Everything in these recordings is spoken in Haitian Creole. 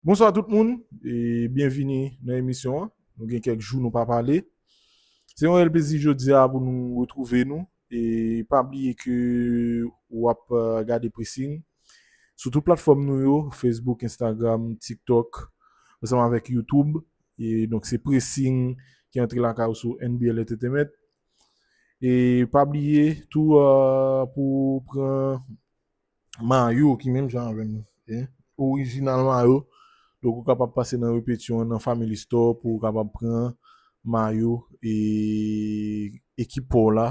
Bonswa tout moun e byenvini nan emisyon an. Nou gen kèk jou nou pa pale. Se yon rèl plezi jodi a pou nou retwouve nou e pa bliye ke ou ap gade Pressing sou tout platfòm nou yo, Facebook, Instagram, TikTok ansanm avèk YouTube. E donk se Pressing ki antre lakay ou sou NBL Entertainment. E pa bliye tou pou pran Mayo ki menm jan avèm e orijinal mayo donk ou kapab pase nan repetyon nan family store pou ou kapab pran mayo e ekip paw la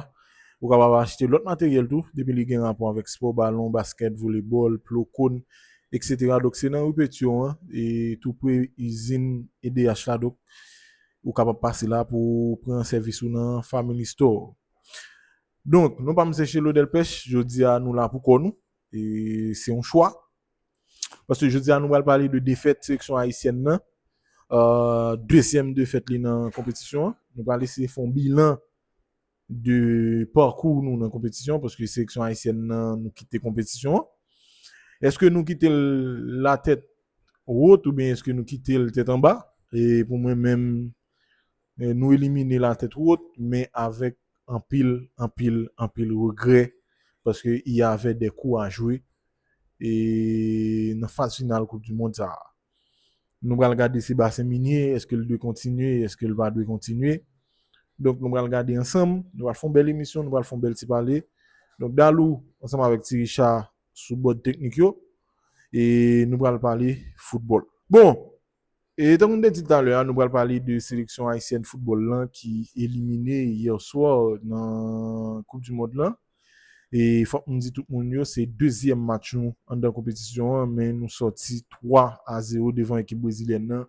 ou kapab achte lòt materyèl tou depi li gen rapò avèk spò balon baskèt volebòl plo kòn etc donk se nan repetyon an e tou pre izin edh la donk ou kapab pase la pou pran sèvis ou nan family store. Donk, nou pa Msye Chelo Delpech, jodi a nou la pou kò nou, e se yon chwa. Paske jodi a nou pral pale de defèt seleksyon ayisyèn nan, dezyèm defèt li nan konpetisyon an. Nou pral eseye fè yon bilan de pakou nou nan konpetisyon an, paske seleksyon ayisyèn nan nou kite konpetisyon an. Eske nou kite l la tèt wot oubyen eske nou kite l tèt anba? E pou mwen menm, Nou elimine l a tèt wot, men avèk anpil, anpil, anpil regrè paske y avè dè kou a jwe nan faz final koup di mond sa a. Nou pral gade Sebastien Migné, èske l dwe kontinye, èske l pa dwe kontinye. Donk nou pral gade ansanm, nou pral fè yon bèl emisyon, nou pral fè yon bèl ti pale. Donk Dalou ansanm avèk Ti Richard sou bòd teknik yo e nou pral pale foutbòl. Bon! E tankou m te di talè a nou pral pale de seleksyon ayisyèn foutbòl lan ki elimine yè swa nan koup di mond lan. E fòk m di tout moun yo se dezyèm match nou anndan konpetisyon an men nou sòti 3 a 0 devan ekip brezilyèn nan.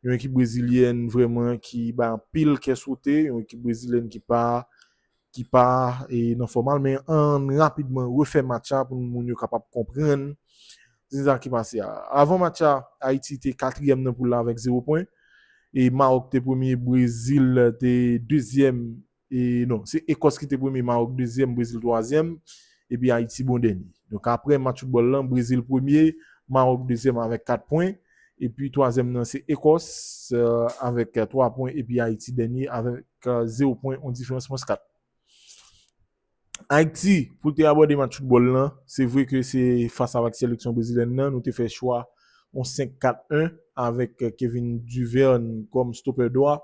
Yon ekip brezilyèn vrèman ki bay anpil kè sote, yon ekip brezilyèn ki pa ki pa nan fòm al men ann rapidman refè match la pou moun yo kapab konprann se sa ki pase a. Avan match la Ayiti te katriyèm nan poul la avèk 0 pwen e Mawòk te premye Brezil te dezyèm e non se Ekòs ki te premye Mawòk dezyèm Brezil twazyèm epi Ayiti bon dènye. Donk aprè match foutbòl lan Brezil premye Mawòk dezyèm avèk 4 pwen. Epi twazyèm nan se Ekòs avèk 3 pwen epi Ayiti dènye avèk 0 pwen yon diferans mwens 4. Ayiti pou l te abòde match foutbòl lan se vre ke se fas avèk seleksyon brezilyèn nan nou te fè chwa yon 5 4 1 avèk Kevin Duvern kòm stopè dwa,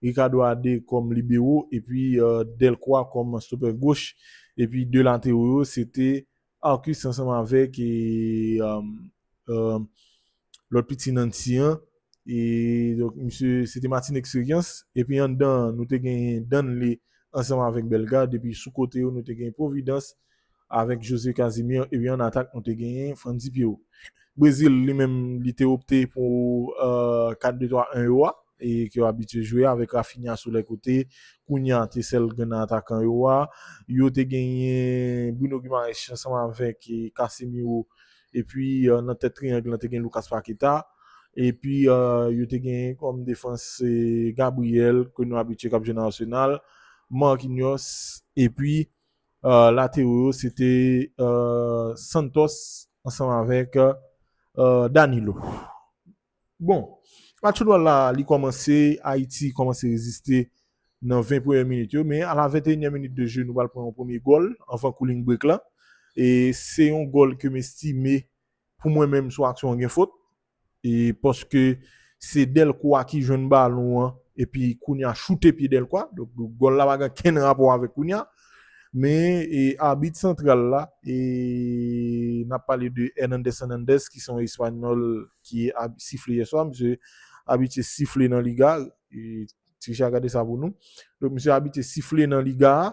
Ricardo Adé kòm libero epi Delcroix kòm stopè goch epi 2 latero yo se te Arcus ansanm avèk lòt piti Nancy an e donk misye se te Martin Experience epi anndan an nou te genyen Danley ansanm avèk Bellegarde epi sou kote yo nou te genyen Providence avèk José Casimir epi an atak nou te genyen Frandy Pierrot. Brésil li menm li te opte pou 4-2-3-1 yo a. ke yo abitye jwe avèk Raphinha sou lè kote, kounya te sèl grenn atakan yo a. Yo te genyen Bruno Guimaraes ansanm avèk Casemiro epi nan tèt triyang lan te gen Lucas Paqueta epi yo te genyen kòm defans Gabriel ke nou abitye kap jwe nan Arsenal, Marquinhos epi latero yo se te Santos ansanm avèk Danilo. Bon, match foutbòl la li kòmanse, Ayiti kòmanse reziste nan 20 premye minit yo, men a la 21 nyèm minit de je nou pral pran yon premye gòl anvan cooling break la, e se yon gòl ke m estime pou mwen menm sou aksyon an gen fot, e paske se Delcroix ki jwenn balon an epi Cunha choute pye Delcroix, donk gòl la pa gen kenn rapò avèk Cunha, Men abit santral la, e n ap pale de Hernandez Hernandez ki se yon espanyòl ki sifle yèswa. Misye abitye sifle nan liga. Trichard gade sa pou nou. Donk misye abitye sifle nan liga a.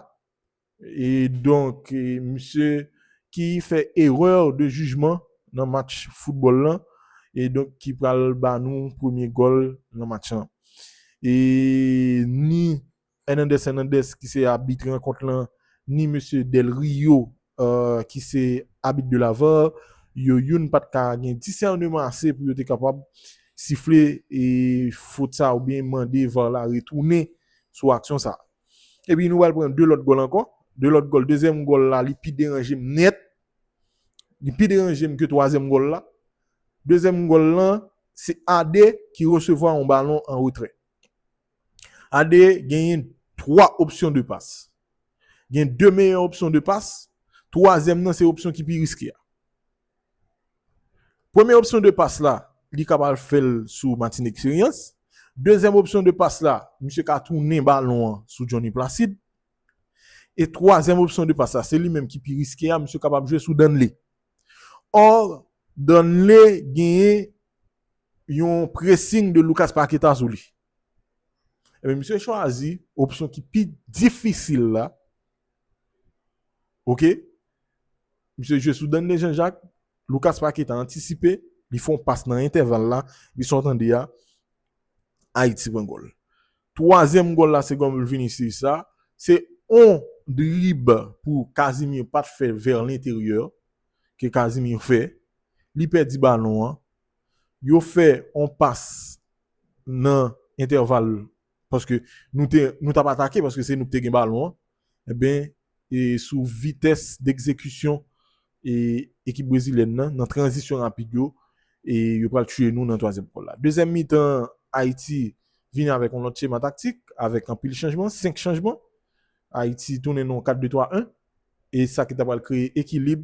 E donk misye ki fè erè de jijman nan match foutbòl lan. E donk ki pral ba nou premye gòl nan match lan. E ni. Hernandez Hernandez ki se abit rankont lan ni mesye Del Rio ki se abit de la var yo youn pa t ka gen disèneman ase pou yo te kapab sifle fot sa oubyen mande var la retounen sou aksyon sa. Epi nou pral pran 2 lòt gòl ankò, 2 lòt gòl, dezyèm gòl la li pi deranje m nèt, li pi deranje m ke twazyèm gòl la. Dezyèm gòl lan se Ade ki resevwa yon balon an retrè. AD genyen 3 opsyon de pas. Gen 2 meyè opsyon de pas, twazyèm nan se opsyon ki pi riske a. Premye opsyon de pas la, li ka pral fè l sou Martin Expérience. Dezyèm opsyon de pas la, misye ka tounen balon an sou Johnny Placide. E twazyèm opsyon de pas la, se li menm ki pi riske a, misye kapab jwe sou Danley. Or, Danlé genyen yon pressing de Lucas Paqueta sou li. Ebyen misye chwazi opsyon ki pi difisil la. Ok. Misye jwe sou Danlé Jean Jacques, Lucas Paqueta antisipe, li fon pas nan entèval la, li sa w tande a, Ayiti pran gòl. Twazyèm gòl la se gòl Vinicius la, se on drib pou Casimir pat fè vè lenteryè ke Casimir fè, li pèdi balon an, yo fè on pas nan entèval paske nou tap atake paske se nou ki te gen balon an, Enben, sou vitès dekzekisyon ekip brezilyèn nan, nan tranzisyon rapid yo, yo pral tiye nou nan twazyèm gòl la. Dezyèm mitan Ayiti vini avèk yon lòt chema taktik, avèk anpil chanjman, 5 chanjman. Ayiti tounen nan yon 4 2 3 1, e sa ki ta pral kreye ekilib.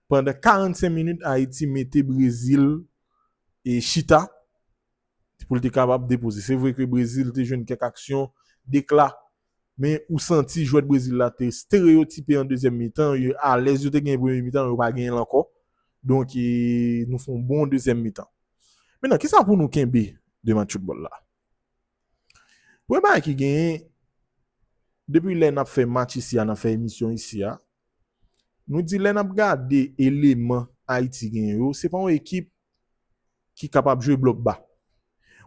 Pandan 45 minit Ayiti mete Brezil chita pou l te kapab depoze. Se vre ke Brezil te jwenn kèk aksyon, dekla Men ou santi jwèt Brezil la te stereyotipe an dezyèm mitan, yo alèz, yo te genyen premye mitan, yo pa genyen l ankò. Donk nou fè yon bon dezyèm mitan. Menan, kisa pou nou kenbe de match foutbòl la? Premye bagay ki genyen, depi lè n ap fè match isi a, n ap fè emisyon isi a, nou di lè n ap gade eleman Ayiti genyen yo, se pa yon ekip ki kapab jwe blòk ba.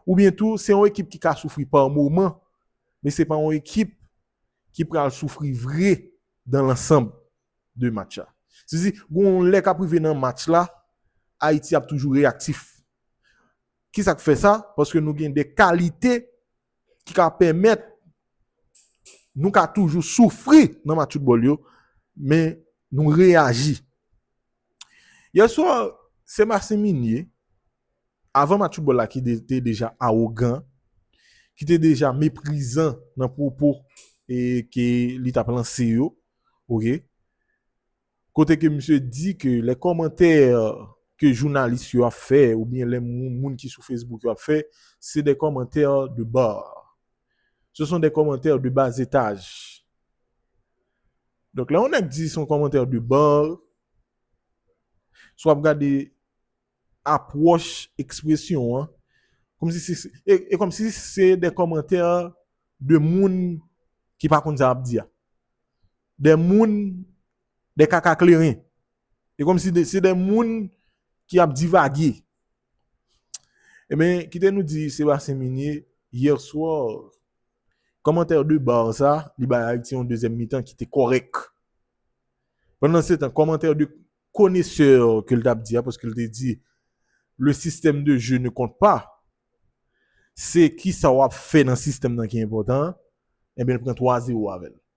Oubyen tou, se yon ekip ki ka soufri pa moman, men se pa yon ekip ki pral soufri vre dan lansanb de match la. Se di, gen yon lè k ap rive nan match la, Ayiti ap toujou reyaktif. Ki sa k fè sa? Paske nou gen de kalite ki ka pèmèt nou ka toujou soufri nan match foutbòl yo, men nou reyaji. Yè swa, Sebastien Migné, avan match foutbòl la ki te deja awogan, ki te deja meprizan nan pwopo ke li t ap lanse yo, Kote ke misye di ke lè kòmantè ke jounalis yo ap fè ou byen lè moun ki sou Facebook yo ap fè, se dè kòmantè de bar. Se son dè kòmantè de bas etaj. Donk lè yon nèg di son kòmantè de bar, si w ap gade apwòch ekspresyon an, e kòmsi se dè kòmantè de moun ki pa konn sa y ap di a. Des moun, des kaka kleren. Se kòm si se des moun ki ap divage. Enben, kite nou di Sébastien Migné, hier soir, kòmantè de bar sa, li bay Ayiti yon dezyèm mitan ki te kòrèk. Pandansetan, kòmantè de konesè ke l t ap di a, paske l te di, le système de jeu ne compte pas, se kisa w ap fè nan sistèm nan ki enpòtan, enben l pran 3 zewo avè l.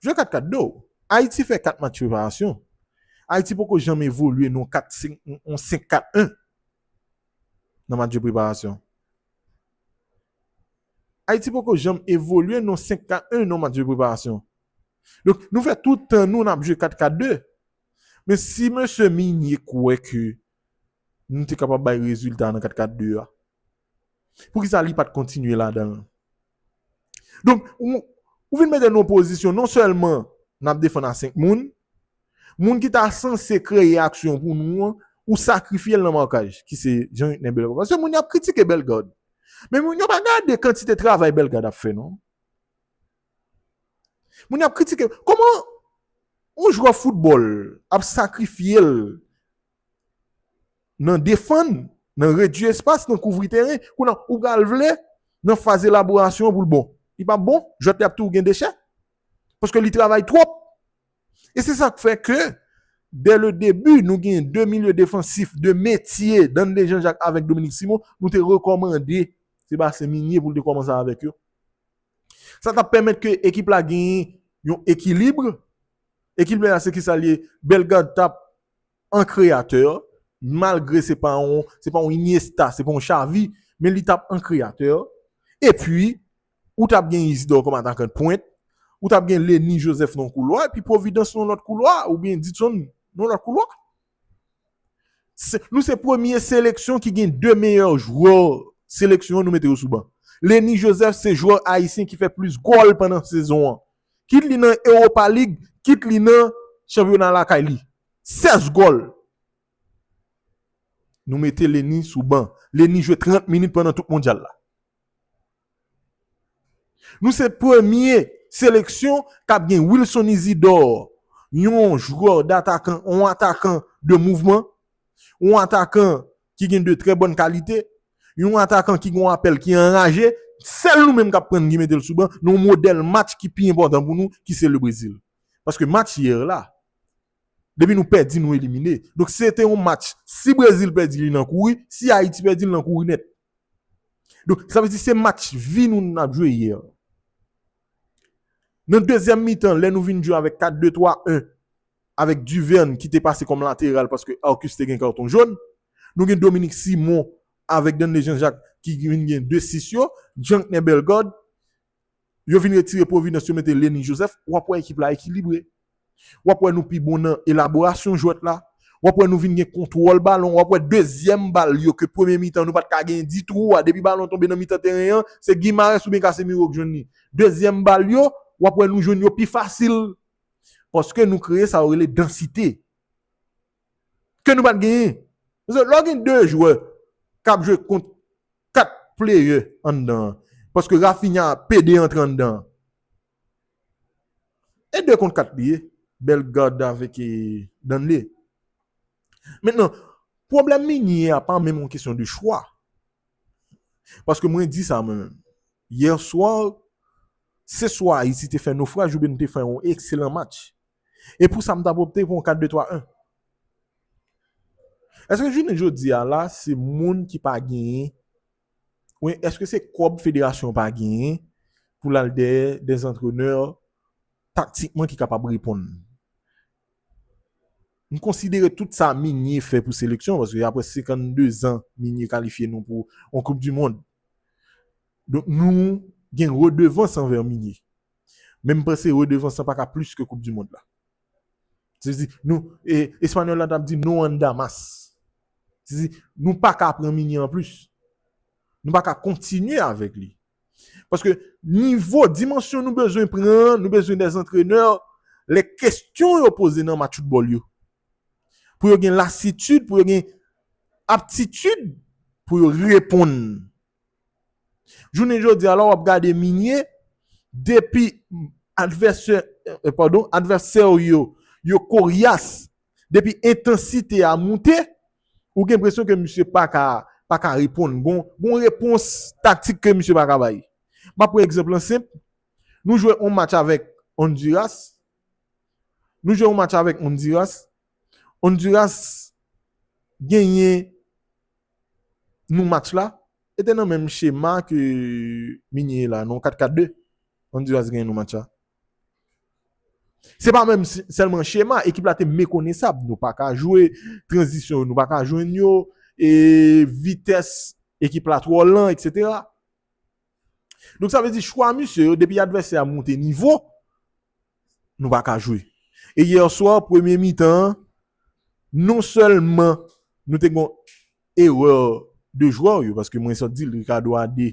Jwe kat kat do. Ayiti fè 4 match preparasyon. Ayiti poko janm evolye nan yon 5-4-1 nan match de preparasyon. Ayiti poko janm evolye nan yon 5-4-1 nan match de preparasyon. Donk nou fè tout tan nou nap jwe 4-4-2. Men si mesye Migné kwè ke nou te kapab bay rezilta nan 4 4 2 a. Poukisa li pat kontinye ladan l? Donk ou vin mete n nan pozisyon non sèlman n ap defann a 5 moun, moun ki ta sanse kreye aksyon pou nou an ou sakrifye l nan markaj ki se Jean Utner Bellegarde. Paske moun yo ap kritike Bellegarde men moun yo pa gade kantite travay Bellegarde ap fè non. Moun ap kritike, kòman yon jwè foutbòl ap sakrifye l nan defann, nan redui espas, nan kouvri teren, kounye a ou pral vle nan faz elaborasyon an pou l bon. Li pap bon, jwèt li ap toujou gen dechè, paske li travay twòp. E se sa k fè ke dè le debi nou gen de milye defansif de metye, Danley Jean Jacques avèk Dominique Simon, nou te rekòmande Sébastien Migné pou l te kòmanse avèk yo. Sa t ap pèmèt ke ekip la genyen yon ekilib. Ekip la se kisa l ye? Bellegarde t ap an kreyatè, malgre se pa yon Iniesta, se pa yon Xavi, men li t ap an kreyatè. Epi, ou t ap gen Isidore kòm atakan dpwent, ou t ap gen Lenny Joseph nan koulwa, epi Providence nan lòt koulwa, oubyen Dixon nan lòt koulwa. Nou se premye seleksyon ki gen 2 meyè jwè seleksyon an nou mete yo sou ban. Lenny Joseph se jwè ayisyen ki fè plis gòl pandan sezon an. Kit li nan Europa League, kit li nan chanpyona lakay li. 16 gòl! Nou mete Lenny sou ban. Lenny jwe 30 minit pandan tout mondyal la. Nou se premye seleksyon k ap gen Wilson Isidore, yon jwè datakan, yon atakan de mouvman, yon atakan ki gen de trè bòn kalite, yon atakan ki gen yon apèl ki anraje. Sèl nou menm k ap pran ki mete l sou ban nan yon modèl match ki pi enpòtan pou nou ki se Lebrezil. Paske match yè la, depi nou pèdi nou elimine. Donk se te yon match si Brezil pèdi li nan kouri, si Ayiti pèdi l nan kouri nèt. Donk, sa vle di se match vi nou n ap jwe yè. Nan dezyèm mitan, lè nou vin jwe avèk 4-2-3-1, avèk Duverne ki te pase kòm lateral paske Arcus te gen karton jòn, nou gen Dominique Simon avèk Danley Jean-Jacques ki vin gen 2-6 yo, Jeanknè Bellegarde, Yo vin retire Providence yo mete Lenny Joseph, w ap wè ekip la ekilibre. W ap wè nou pi bon nan elaborasyon jwèt la. W ap wè nou vin gen kontwòl balon. W ap wè dezyèm bal yo ke premye mitan nou pa t ka genyen ditou a, depi balon tonbe nan mitan teren an, se Guimaraes oubyen Casemiro k jwenn li. Dezyèm bal yo, w ap wè nou jwenn yo pi fasil. Paske nou kreye sa yo rele dansite. ke nou pat genyen. Paske lè w gen 2 jwè k ap jwe kont 4 pleyè anndan an, paske Raphinha a pede antre anndan an. E 2 kont 4 li ye, Bellegarde avèk Danley. Mentnan, pwoblèm Meunier a pa menm yon kesyon de chwa. Paske mwen di sa mwen menm. Yè swa, se swa Ayiti te fè nofraj oubyen nou te fè yon ekselan match. E pou sa m t ap opte pou yon 4 2 3 1. Eske jounen jodi a la se moun ki pa genyen oubyen eske se kòb federasyon an pa genyen pou l al dèyè de antrenè taktikman ki kapab reponn? M konsidere tout sa Migne fè pou seleksyon paske aprè 52 zan Migne kalifye nou pou yon koup dimond. Donk nou gen redevans anvè Migne. Men m panse redevans lan pa ka plis ke koup di mond la. Se di nou e espanyòl la tap di nou an damas. Se di nou pa ka pran mini an plis. Nou pa ka kontinye avèk li. Paske nivo dimansyon nou bezwen pran, nou bezwen de antrenè lè kestyon yo poze nan match foutbòl yo. Pou yo gen lasitid, pou yo gen aptitid pou yo reponn. Jounen jodi a la w ap gade minye, depi advèsè, padon, advèsè w yo, yo koryas, depi entansite a moute, ou gen enpresyon ke misye pa ka, pa ka reponn. Gon, gon repons taktik ke misye pa ka bay. M ap pran egzanp lan senp, nou jwe yon match avèk Ondiras, nou jwe yon match avèk Ondiras, Honduras genyen nou match la e te nan menm chema ke Migne ye la non 4 4 2 Honduras genyen nou match la se pa menm sèlman chema ekip la te mekonesab nou pa ka jwe tranzisyon nou pa ka jwenn yo e vitès ekip la twò lan etc donk sa vle di chwa misye yo depi advèsè a moute nivo nou pa ka jwe. E hier soir premye mitan an non sèlman nou te gon erreur de jwè yo paske mwen sot dil Ricardo a de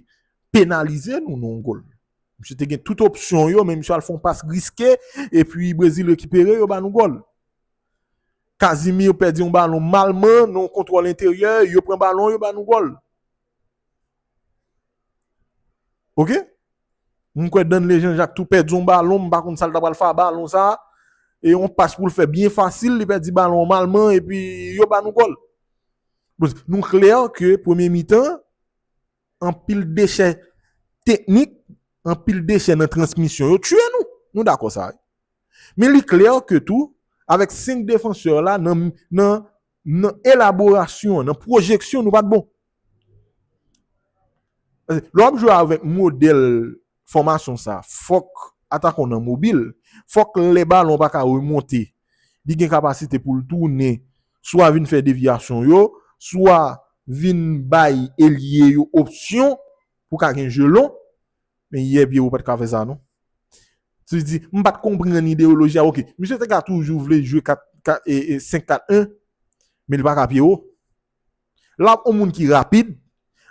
penalize nou nou yon gol. Misye te gen tout opsyon yo men misye al fon pas riske e pi Brezil rekipere yo ba nou gol. Casimir pèdi yon balon malman nou yon kontwòl enteryè yo pran balon yo ba nou gol. Ok? Mwen kwè Danley Jean-Jacques tou pèdi yon balon, mwen pa konn sa l ta pral fè a balon sa. E yon pas pou l fè byen fasil, li pèdi balon an malman epi yo ba nou gòl. Nou klè ke premye mitan, anpil dechè teknik, anpil dechè nan transmisyon yo tiye nou. Nou dakò sa. Men li klè ke tou, avèk 5 defansè la nan Nan elaborasyon an, nan pwojeksyon nou pat bon. Lè wap jwe avèk modèl fòmasyon sa, fòk atakan w nan mobil, fòk lè balon pa ka remonte, li gen kapasite pou l tounen, swa vin fè devyasyon yo, swa vin bay elye yo opsyon pou ka gen je lon. Men yè Pierrot pat ka fè sa non. Ti di, m pat konprann ideyoloji a ok. Misye te ka toujou vle jwe 4 5 4 1 men li pa ka Pierrot. Lap yon moun ki rapid,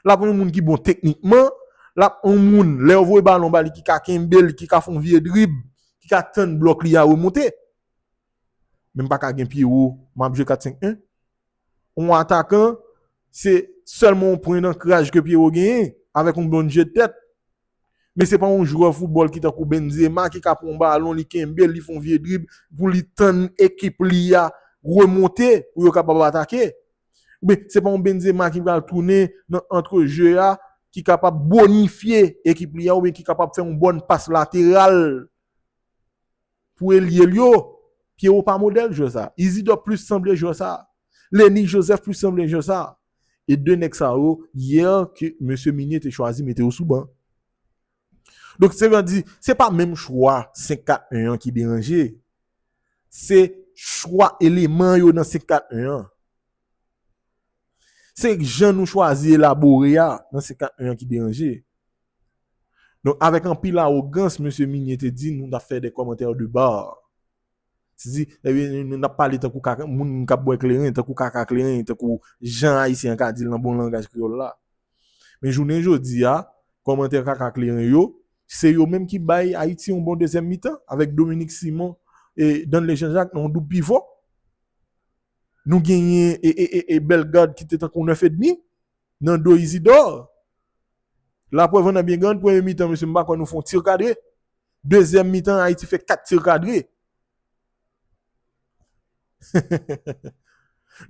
lap yon moun ki bon teknikman, lap yon moun lè ou voye balon ba li ki ka kenbe l, ki ka fè yon vye drib, ki ka tann blòk li a remonte. Men m pa ka gen Pierrot m ap jwe 4 5 1. On atakan se sèlman on pwen dankraj ke Pierrot genyen avèk on bon jeu de tèt. Men se pa on jwè foutbòl ki tankou Benzema ki ka pran on balon li kenbe l li fè on vye drib pou li tann ekip li a remonte pou yo kapab atake. Oubyen se pa on Benzema ki pral tounen nan antre jeu a ki kapab bonifye ekip li a oubyen ki kapab fè on bòn pas lateral. Pou elye l yo, Pierrot pa modèl jwè sa. Isidor plis sanble jwè sa. Lenny Joseph plis sanble jwè sa. E 2 nèg sa yo, yè ke mesye Migné te chwazi mete yo sou ban. Donk se vle di, se pa menm chwa 5-4-1 an ki deranje. Se chwa eleman yo nan 5-4-1 an. Se jan nou chwazi elabore a nan 51 an ki deranje. Donk avèk anpil awogans mesye Migné te di nou ta fè des commentaires de bar. Se di nou ta pale tankou kaka moun k ap bwè kleren, tankou kaka kleren, tankou jan ayisyen an ka di l nan bon langaj kreyòl la. Men jounen jodi a, kòmantè kaka kleren yo, se yo menm ki bay Ayiti yon bon dezyèm mitan avèk Dominique Simon e Danley Jean Jacques nan yon doub pivò. Nou genyen e Bellegarde ki te tankou 9 edmi nan do Isidore. Laprèv an nan byen grann, premye mitan mesye m pa kwè nou fè yon tir kadre. Dezyèm mitan Ayiti fè 4 tir kadre.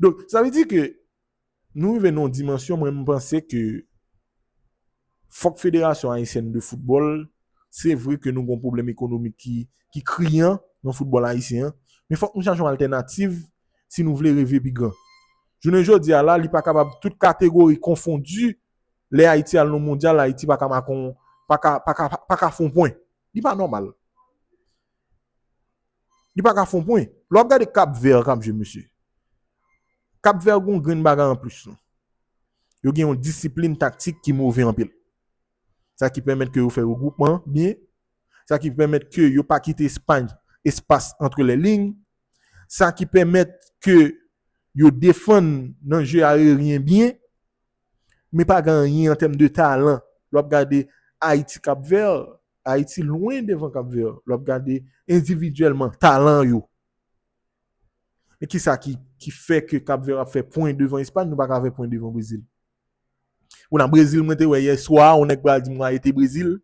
Donk sa vle di ke Nou rive nan yon dimansyon mwen m panse ke fòk federasyon ayisyèn de foutbòl se vre ke nou gon pwoblèm ekonomik ki kriyan nan foutbòl ayisyen an men fòk nou chache yon altènativ si nou vle reve pi gran jounen jodi a la li pa kapab tout kategori konfondi lè ayiti al nan mondyal ayiti pa ka make yon pa ka fè yon pwen li pa nòmal. Li pa ka fon pwen. Lè w ap gade Cap Vert k ap jwe mesye, Cap Vert gen yon grenn bagay anplis. Yo gen yon disiplin taktik ki move anpil. Sa ki pèmèt ke yo fè regwoupman an byen. Sa ki pèmèt ke yo pa kite Espagne espas antre lè lign. Sa ki pèmèt ke yo defann nan je ayeryen byen. Men pa gen anyen an tèm de talan lè w ap gade Ayiti Kap Vè. Ayiti lwen devan Kap Vè lè w ap gade endividyèlman talan yo. Men ki sa ki fè ke Kap Vè ap fè pwen devan Espay nou pa ka fè pwen devan Brezil. Ou nan Brezil mwen te wè yè swa yon nèg pral di m wa ete Brezil.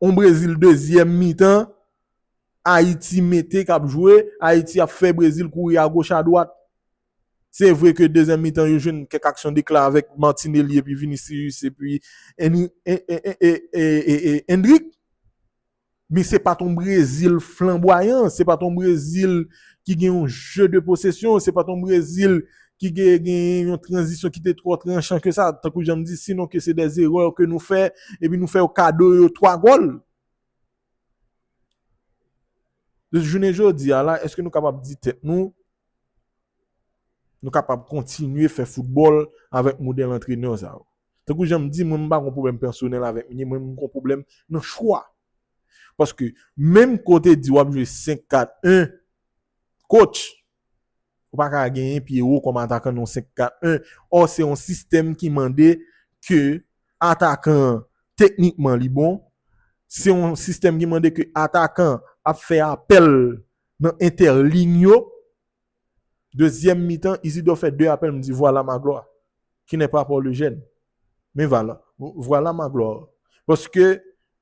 Yon Brezil dezyèm mitan Ayiti mete k ap jwe, Ayiti ap fè Brezil kouri agoch adwat. Se vre ke dezyèm mitan yo jwenn kèk aksyon dekla avèk Martinelli epi Vinicius epi Endrick men se pat yon Brezil flanbwayan, se pat yon Brezil ki gen yon jeu de possession, se pat yon Brezil ki te genyen yon tranzisyon ki te twò tranchan ke sa, tankou jan m di sinon ke se dè zerè ke nou fè epi nou fè yo kado yo 3 gòl. Jounen jodi a la èske nou kapab di tèt nou Nou kapab kontinye fè foutbòl avèk modèl antrenè sa yo. Tankou jan m di, mwen m pa gon pwoblèm pèsonèl avèk Meunier, mwen m gon pwoblèm nan chwa. Paske menm ke w te di w ap jwe 5-4-1, coach, ou pa ka genyen Pierrot kòm atakan nan yon 5-4-1. Ò se yon sistèm ki mande ke atakan an teknikman li bon, se yon sistèm ki mande ke atakan ap fè apèl Nan entèligne yo, dezyèm mitan, Isidor fè 2 apèl, m di vwala Magloire, ki nè pa Port Le Jeune. Men vwala, vwala Magloire. Paske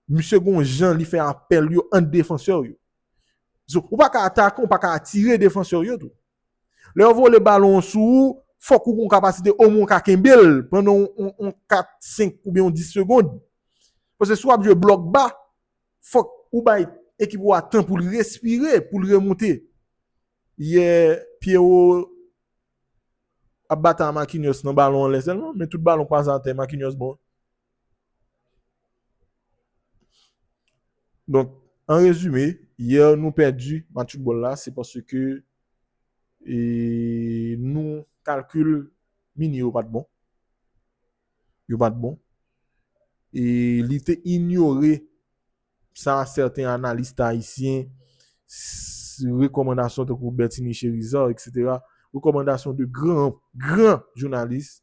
misye gon jan li fè apèl yo ant defansè yo. Zo, ou pa ka atake, ou pa ka atire defansè yo tou. Lè yo vole balon an sou ou, fòk ou gon kapasite omwen ou ka kenbe l pandan yon 4, 5 oubyen yon 10 segond. Paske si w ap jwe blòk ba, Fòk ou bay ekip ou a tan pou l respire, pou l remoute. Yè Pierrot ap batay a Marquinhos nan balon anlè sèlman, men tout balon k pase atè Marquinhos bon. Donk, an rezime, yè nou pèdi match foutbòl la se paske nou kalkil Mini yo pa t bon. yo pa t bon e li te inyore sa sèten analist ayisyen, rekòmandasyon tankou Bertinie Cherizard eksetera, rekòmandasyon de gran, gran jounalis,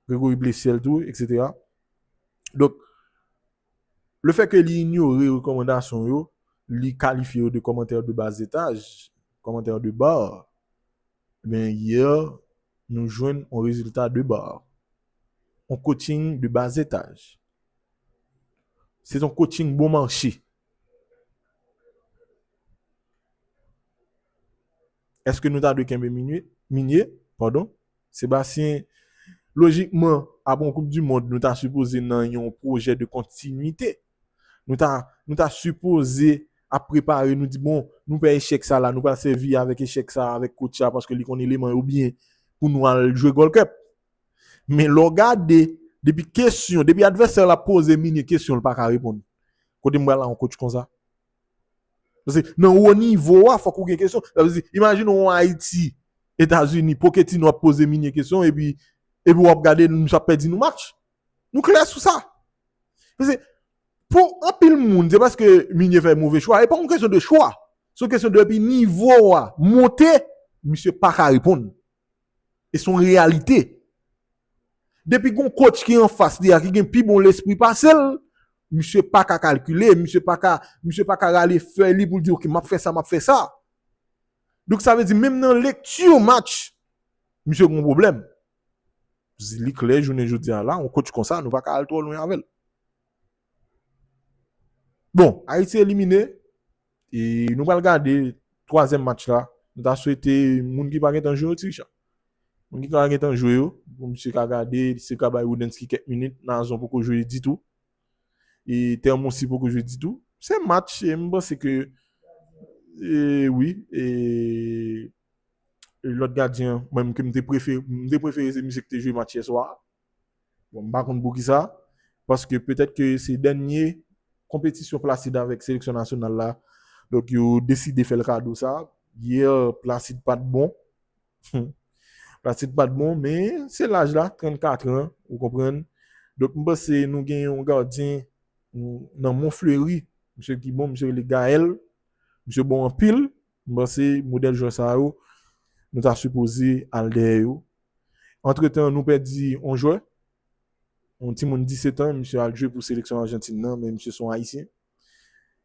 Gregory Blessiel tou eksetera. Donk, le fè ke li inyore rekòmandasyon yo, li kalifye yo de kòmantè de bas etaj, kòmantè de bar, Ebyen hier nou jwenn on rezilta de bar. On coaching de bas étage. Se ton coaching bon marche. Eske nou ta dwe kenbe Migne? Pardon. Sébastien lojikman apre on koup du mond nou ta sipoze nan yon pwojè de kontinite. Nou ta nou ta sipoze ap prepare nou di bon nou pè echèk sa la nou pral sèvi avèk echèk sa avèk coach sa paske li konn eleman yo byen pou nou al jwe Gold Cup. Men lè w gade depi kesyon, depi advèsè la poze Minie kesyon li pa ka reponn. Kote m pral a yon coach konsa? Paske nan wo nivo a fòk ou gen kesyon. Sa vle di imajine w Ayiti, Etazini, Poketino ap poze Minie kesyon epi epi w ap gade misye ap pèdi nou match. Nou klè sou sa. Pase, pou anpil moun, se paske Minye fè move chwa, e pa yon kesyon de chwa. Se yon kesyon de epi nivo a monte, misye pa ka reponn. E son reyalite. Depi gon kotch ki an fas li a, ki gen pi bon lespri pase l, misye pa ka kalkile, misye pa ka, misye pa ka rale fèy li pou l di ok, m ap fè sa, m ap fè sa. Donk sa vle di menm nan lekti match, misye gen yon pwoblèm. Li klè jounen jodi a la, yon coach konsa nou pa ka al twò lwen avè l. Bon, Ayiti elimine, e nou pral gade twazyèm match la, nou ta swete moun ki pa gen tan jwe yo ti Richard. Moun ki ka gen tan jwe yo, pou misye ka gade, misye ka bay Woodensky kèk minit, Nazon poko jwe ditou, e Termonsi poko jwe ditou. Se match, e m panse ke, e wi, e. Lòt gadyen an mwen menm ke m te prefere, m te prefere se misye ki te jwe match yè swa a. Bon, m pa konn poukisa, paske petèt ke se dènye konpetisyon Placide avèk seleksyon nasyonal la, donk yo deside fè l kado sa. Yè, Placide pa t bon. Placide pa t bon, men se laj la, 34 an, ou konprann. Donk m panse nou gen yon gadyen nan Monfleury, misye ki bon, misye rele Gaël. Misye bon anpil. M panse modèl jwè sa yo nou ta sipoze al dèyè yo. Antretan nou pèdi yon jwè, yon timoun 17 an, misye al jwe pou seleksyon Ajantin nan men misye se yon ayisyen.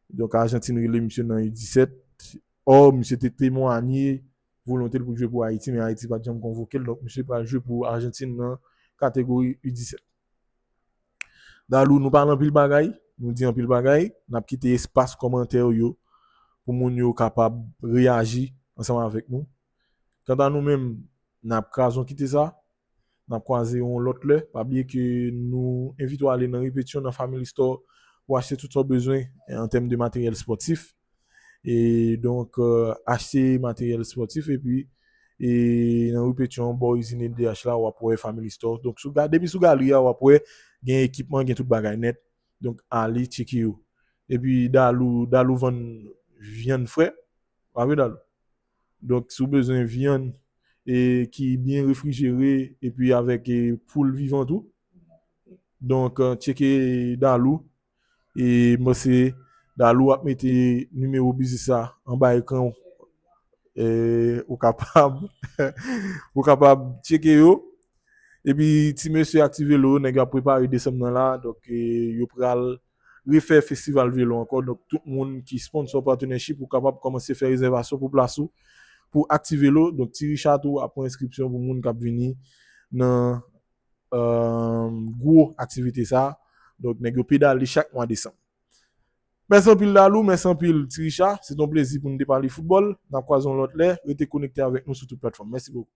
Donk Ajantin rele misye nan U17, ò misye te temwanye volonte l pou l jwe pou Ayiti men Ayiti pa t janm konvoke l donk misye pral jwe pou Ajantin nan kategori U17. Dalou nou pale anpil bagay, nou di anpil bagay, nap kite espas kòmantè ou yo pou moun yo kapab reyaji ansanm avèk nou. Kanta nou menm nap krazon kite sa, nap kwaze yon lòt lè, pa bliye ke nou envite w ale nan Repetition nan Family Store pou achte tout sa w bezwen an tèm de materyèl spòtif. e donk achte materyèl spòtif epi e nan ri Petion bò izin LDH la wap wè Family Store donk sou depi sou galri a wap wè gen ekipman gen tout bagay nèt donk ale tcheke yo epi Dalou Dalou vann vyann fre pa vre Dalou donk si w bezwen vyann e ki byen refrijere epi avèk poul vivan tou donk tcheke Dalou. E mwen se Dalou wap mete nimewo biznis la anba ekran ou e ou kapab ou kapab tcheke yo epi ti mesye ak ti velo nèg yo ap prepare desanm nan la donk yo pral refè festival velo ankò donk tout moun ki sponsò patenèchip ou kapab kòmanse fè rezèvasyon pou plas ou pou ak ti velo donk ti richa tou ap pran enskripsyon pou moun kap vini nan gwo aktivite sa a. Donk nèg yo pedale chak mwa desanm. Mèsi anpil Dalou, mèsi anpil Ti Richa. Se te yon plezi pou nou te pale foutbòl. N ap kwaze yon lòt lè. Rete konekte avèk nou sou tout platfòm. Mèsi bokou.